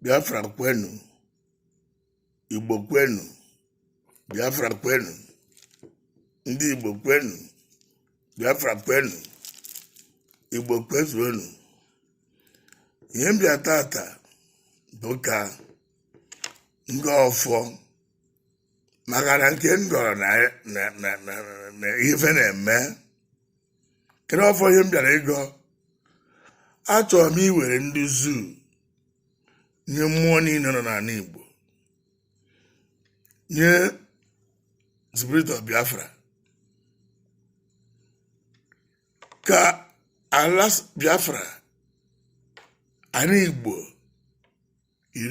Biafra kwenu Igbo kwenu Biafra kwenu ndị Igbo kwenu Biafra kwenu Igbo kwezuonu ihe m bịa tata bụ ka m gọọ ọfọ maka na nke m gọrọ na na- na- na- na ife na-eme kedu ọfọ ihe m bịara ịgọ achọrọ m iwere ndị zoo nye mmụọ niile nọ n'ala Igbo nye spirit of Biafra ka ala Biafra ala Igbo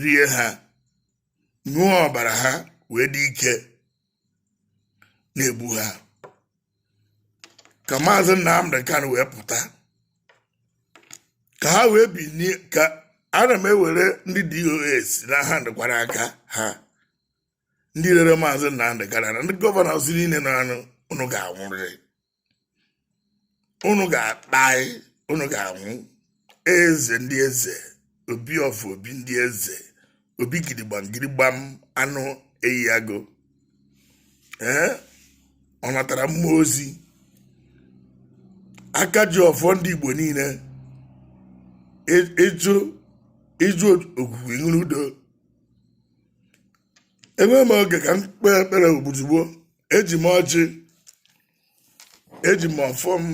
rie ha ṅụọ ọbara ha wee dị ike na-egbu ha ka maazị Nnamdi Kanu wee pụta ka ha wee binie ka ana m ewere ndị DOS na ha ndịkwara aka ha ndị rere maazị Nnamdi Kanu na ndị gọvanọs niile na-anụ unu ga-anwụrịrị unu ga-akpai unu ga-anwụ eze ndị eze obi ọfụ obi ndị eze obi gidigbam gidigbam anụ eyi agụ ee ọ natara mmụọ ozi aka ji ọfọ ndị igbo niile eji ogugu iṅụrụ udo enweghị m oge ka m kpee ekpere ogbu ozugbo eji m ọjị eji m ọfọ m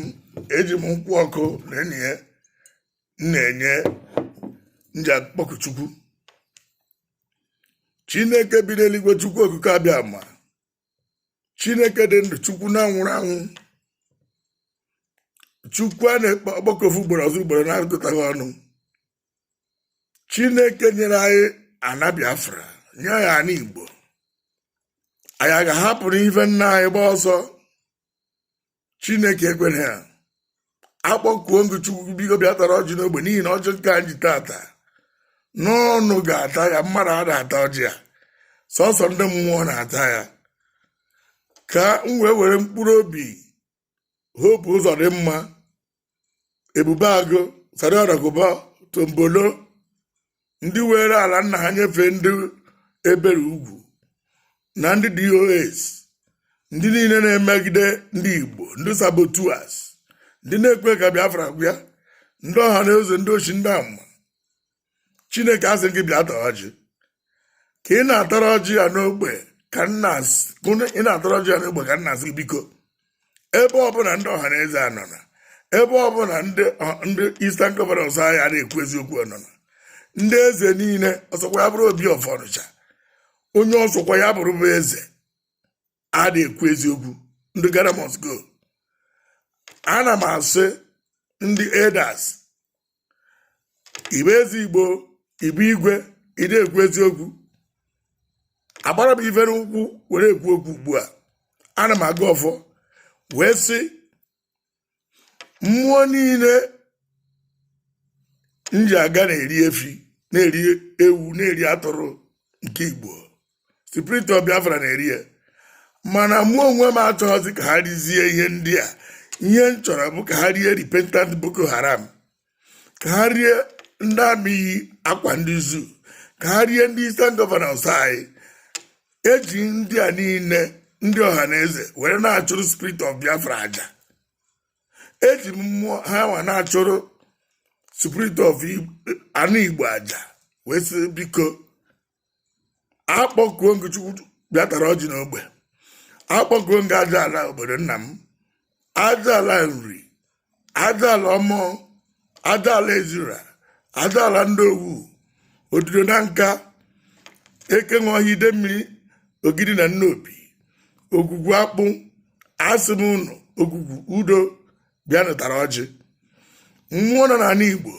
eji m nkwụ ọkụ na enyi ya m na-enye m ji akpọku chukwu chineke bi n'eluigwe chukwu okike abịama chineke dị ndụ chukwu na-anwụrọ anwụ chukwu a na-akpọku ofu ugboro ọ zaa ugboro na-agụtaghị ọnụ chineke nyere anyị ana biafra nye anyị ana igbo anyị a ga-ahapụrụ ife nna anyị gba ọsọ chineke ekwere ya akpọkuo m gị chukwu biko bịa tara ọjị n'ogbe n'ihi na ọjị nke a m ji tata na ọ unu ga-ata ya mmadụ ada ata ọjị a sọsọ ndị mmụọ na-ata ya ka m wee were mkpụrụ obi hope uzodimma ebube agụ asari dokubo tompolo ndị were ala nna ha nyefee ndị ebere ugwu na ndị dos ndị niile na-emegide ndị igbo ndị saboteurs ndị na-ekwe ka biafra bịa ndị ọhanaeze ndị oshi ndị ama chineke asị m gị bịa tara ọjị ka ị na-atara ọjị ya n'ogbe ka m na s- ka ị na-atara ọjị ya n'ogbe ka m na-asị gị biko ebe ọbụla ndị ọha na eze a nọ na ebe ọbụla ndị ọ- ndị Eastern Governors anyị a na-ekwu eziokwu nọ na ndị eze niile ọsọkwa ya bụrụ obi of Ọnịcha onye ọsọkwa ya bụrụ bụ eze adị ekwu eziokwu ndị gara must go ana m asị ndị elders ị bụ eze igbo ị bụ igwe ị dị ekwu eziokwu agbara m ife n'ụkwụ were ekwu okwu ugbu a ana m agọ ọfọ wee sị mmụọ niile m ji aga na-eri efi na-eri ewu na-eri atụrụ nke i gbuo spirit of biafra na-eri ya mana mụ onwe m achọghịzi ka ha rizie ihe ndị a ihe m chọrọ bụ ka ha rie repentant boko haram ka ha rie ndị amị yi akwa ndị zoo ka ha rie ndị Eastern Governors anyị eji ndị a niile ndị ọha na eze were na-achụrụ spirit of Biafra aja eji mmụọ ha nwa na-achụrụ spirit of ana Igbo aja wee sị biko akpọkuo m gị chukwu bịa tara ọjị n'ogbe akpọkuo m gị aja ala obodo nna m aja ala nri aja ala omor aja ala ezira aja ala ndiowu ududo nanka eke nwe ọhịa ide mmiri ogidi na nnobi ogwugwu akpụ asị m ụnụ ogwugwu udo bịanụ tara ọjị mmụọ nọ n'ala igbo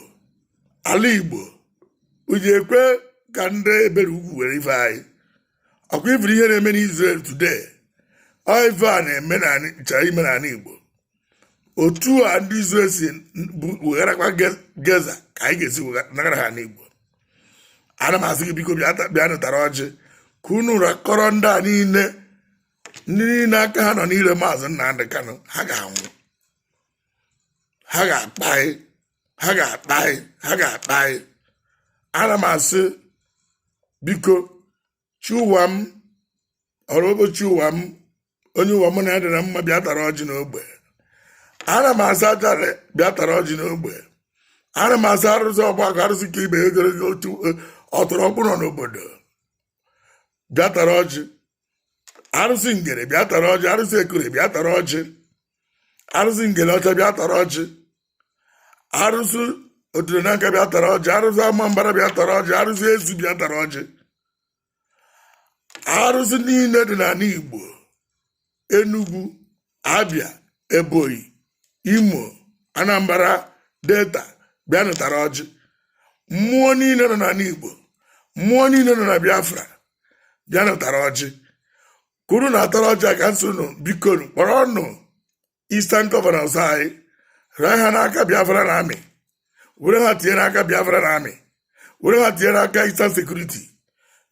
ala igbo uji ekwe ka ndị ebero ugwu were ife anyị ọkwa ị fụrụ ihe na-eme n'Israel today ọ ife a na-achọ ime n'ala igbo otu a ndị Israel si wegharakwa Gaza ka anyị ga-esi nagara ha ana igbo ana m asị gị biko bịanụ tara ọjị ka unu rikọrọ ndị a niile ndị niile aka ha nọ n'ire maazị Nnamdị Kanụ ha ga-anwụ ha ga-akpa anyị ha ga-akpa anyị ha ga-akpa anyị ana m asị biko chi ụwa m ọrụ ụbọchị ụwa m onye ụwa mụ na ya dị na mma bịa tara ọjị n'ogbe ana m asị aja ala bịa tara ọjị n'ogbe ana m asị arụsị ọgbakọ arụsị ka ibe ogologo otu ọtụrụ ọkpụrụ n'obodo bịa tara ọjị arụsị ngere bịa tara ọjị arụsị ekure bịa tara ọjị arụsị ngele ọcha bịa tara ọjị arụsị ududo nanka bịa tara ọjị arụsị ama mbara bịa tara ọjị arụsị ezu bịa tara ọjị arụsị niile dị n'ala igbo enugwu abia ebonyi imo anambra delta bịanụ tara ọjị mmụọ niile nọ n'ala igbo mmụọ niile nọ na biafra bịanụ tara ọjị kwuru na-atara ọjị a ka m sị unu bikonụ, kpọrọnụ eastern governors anyị raa ha n'aka biafran army were ha tinye n'aka biafran army were ha tinye n'aka Eastern Security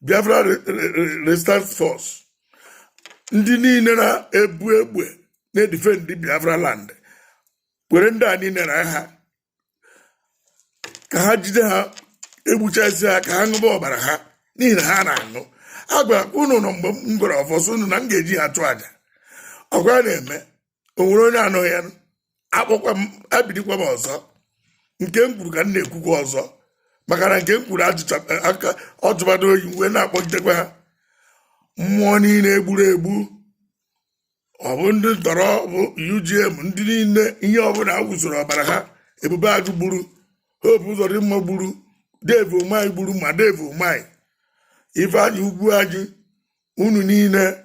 Biafra Resistance Force ndị niile na-ebu egbe na-edifendi Biafra land were ndị a niile na ha ka ha jide ha egbuchasị ha ka ha ṅụba ọbara ha n'ihi na ha na-aṅụ agwa unu nọ mgbe m gwara ọfọsọ unu na m ga-eji ha achụ aja ọ kwa na-eme o nwere onye anụghị ya akpọkwa m ebidokwa m ọzọ nke m kwuru ka m na-ekwukwa ọzọ maka na nke m kwuru ajụcha aka ọ jụbago oyi wee na-akpọtekwa ha mmụọ niile egburu egbu ọ bụ ndị ntọrọ ọ bụ UGM ndị niile ihe ọbụla a wụsoro ọbara ha Ebubeagụ gburu Hope Ụzọdịmma gburu Dave Umahi gburu ma Dave Umahi Ifeanyi Ugwuanyi unu niile